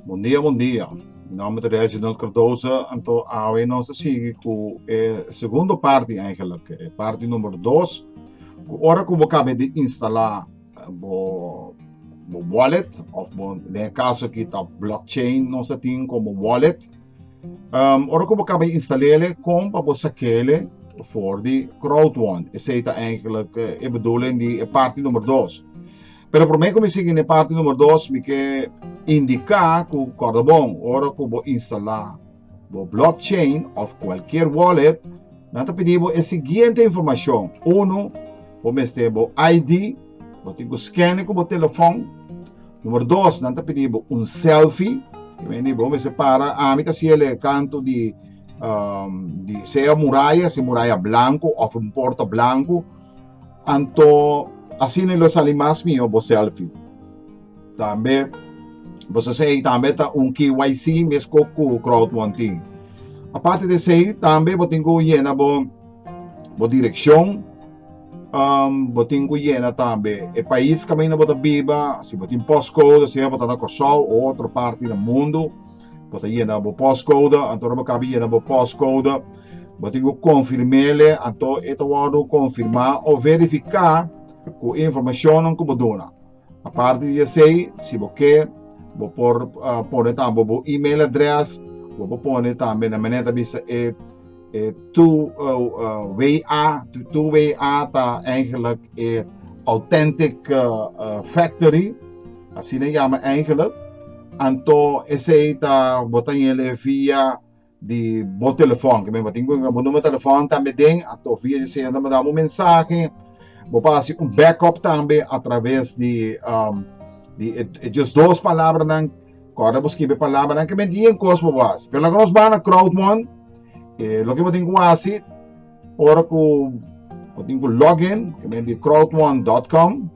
Bon dia bon dia mi nomber ta Reginald Cardoza anto awe nos ta sigui ku e segundo parti eigenlijk e parti number dos ku ora ku bo kabe di instala bo wallet of bo den e kaso aki ta blockchain nos ta tin komo wallet. Um, ora ku bo kaba di instalele, kon pa bo sakele for di CrowdOne. Esei ta eigenlijk eh, e bedoeling di e parti nummer 2. Pero promé ku mi sigui ne parti nummer 2, mi ke indika ku korda bon, ora ku bo instala bo blockchain of kualkier wallet, nan ta pidi bo e siguiente informashon. Uno, bo mester bo ID, bo tin ku scanne ku bo telefon, Numero dos, nan ta pidi bo un selfie. Yo mende bo mester para. Ami ta hasiel e kanto di, um, di sea muraya, si muraya blanco of un porta blanco. Anto, asina lo sali mas mihó bo selfie. Tambe, bo sa sei, tambe ta un KYC mesco cu crowdfunding. Aparte de esei, tambe bo tin cu yena bo. Bo direccion, um, bo tin ku yena tambe e pais kamen na bo ta biba, si bo tin postcode, sea bo ta na Kòrsou o otro parti na mundu, bo ta yena bo postcode, anto bo kabi yena bo postcode, bo tin ku konfirmele, anto e ta wòrdu konfirmá o verifiká ku informashonnan ku bo duna. Aparte di esei, si bo ke, bo por pone tambe bo email address, bo por pone tambe nan menen ta bisa e e two way a, two way a ta eigenlijk e authentic factory, asina yama eigenlijk, anto esei ta bo ta yele via di bo telefon ke meba tin ku bo numero telefon tambe den ato via di señal tambe dabo mensahe bo pa hasi un backup tambe a traves di um, di e, e just dos palabra nan kora bo skibe palabra nan ke men di en kos bo hasi pero laga nos bana crowdmon eh, lo ke bo tin ku hasi ora ku bo tin ku login ke men di crowdmon.com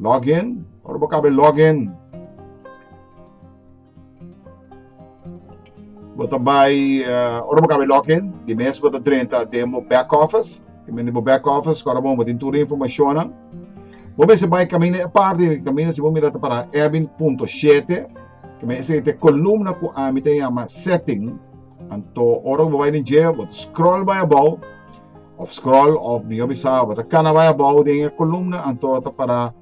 login ora bo kabe login Bo ta bai, ora bo caba e login, di mes bo ta drenta den bo back office. Tin men di bo back office cu awor bo tin tur e informacionnan. Bo mester bai caminda e parti, caminda si bo mira ta para Ebbing punto shete, ta men esei ta e columna cu ami ta yama setting. Anto ora cu bo bai den dje bo ta scroll bai abao, of scroll of mihor bisa bo ta cana bai abao den e columna anto ta para.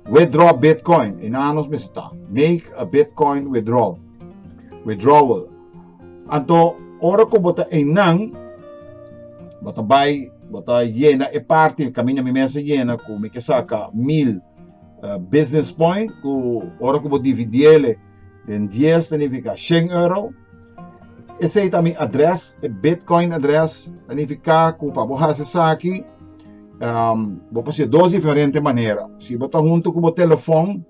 Withdraw Bitcoin, e nan nos mester ta. Make a Bitcoin withdrawal, withdrawal. Anto, ora ku bo ta e nan, bo ta bai, bo ta yena e parti, kaminda mi mes a yena, ku mi ke saka mil business point, ku ora ku bo dividiele, Den 10 ta nifica 100 euro. Esei ta mi adres, e bitcoin adres. Ta nifica cu pa bo haci esaki, um, bo por haci dos diferente manera. Si bo ta hunto cu bo telefon,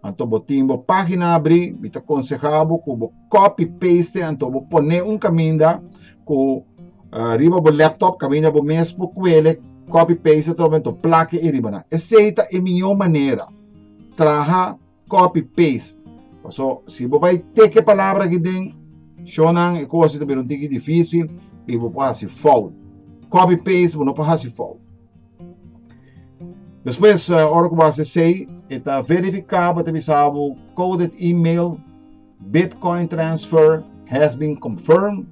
anto bo tin bo pagina abri, mi ta conseha bo cu bo copy paste anto bo pone un caminda cu uh riba bo laptop, caminda bo mes por cuele, copy paste atrobe anto plaki ei riba nan. Esei ta e miyo manera. Traha. copy paste paso si bo bai teke palabra aki den shonan e cos ta bira un tiki dificil y bo por haci fout copy paste bo no por haci fout despues ora cu bo haci esey e ta verifica bo ta bisa bo coded email bitcoin transfer has been confirmed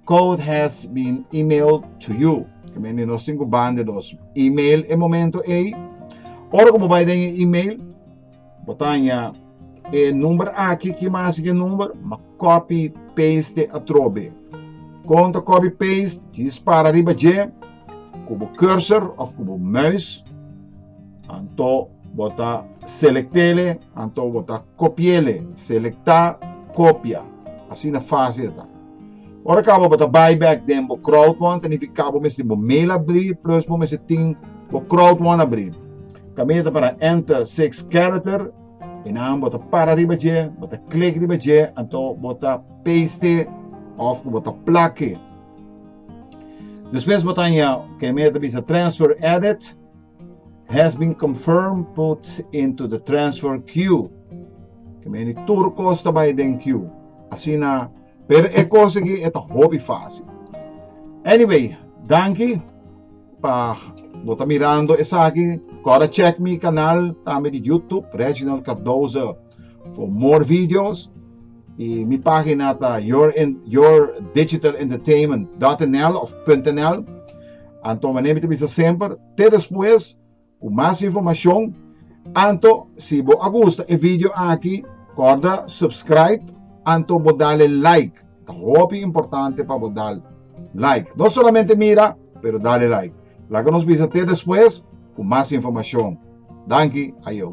Code has been emailed to you. Que men di nos tin ku ban de dos email e momento ei. Ora ku bo bai den e email, bo taña e number aki ki mas ke number, ma copy paste atrobe. Konta copy paste, dispara riba je ku bo cursor of ku bo muis Anto bo ta selektele, anto bo ta kopiele. Selektá, kopia. Asina fásil ta. Ora kaba bo ta buyback den bo crowdfund, ta nifiká bo mester bo mail abrí plus bo mester tin bo crowdfund abrí. Kaminda ta para enter six character, e nan bo ta para riba dje, bo ta klik riba dje, anto bo ta paste òf ku bo ta plake. Despues bo ta haña ke men ta bisa transfer edit. has been confirmed put into the transfer queue. Ke meni tur kos ta bai den queue. Asina, pero e kos aki e ta hopi fácil. Anyway, danki pa bo ta mirando esaki. Kora check mi kanal tambe di YouTube, Reginald Cardoso. For more videos, y mi página ta your, yourdigitalentertainment.nl of .nl. Anto mané mi te bisa semper, te después cu mas informacion. Anto, si bo a gusta e video aki, corda subscribe, anto bo dale like. Ta hopi importante pa bo dal like. No solamente mira, pero dale like. Laga nos bisa te después cu mas informacion. Danki, ayo.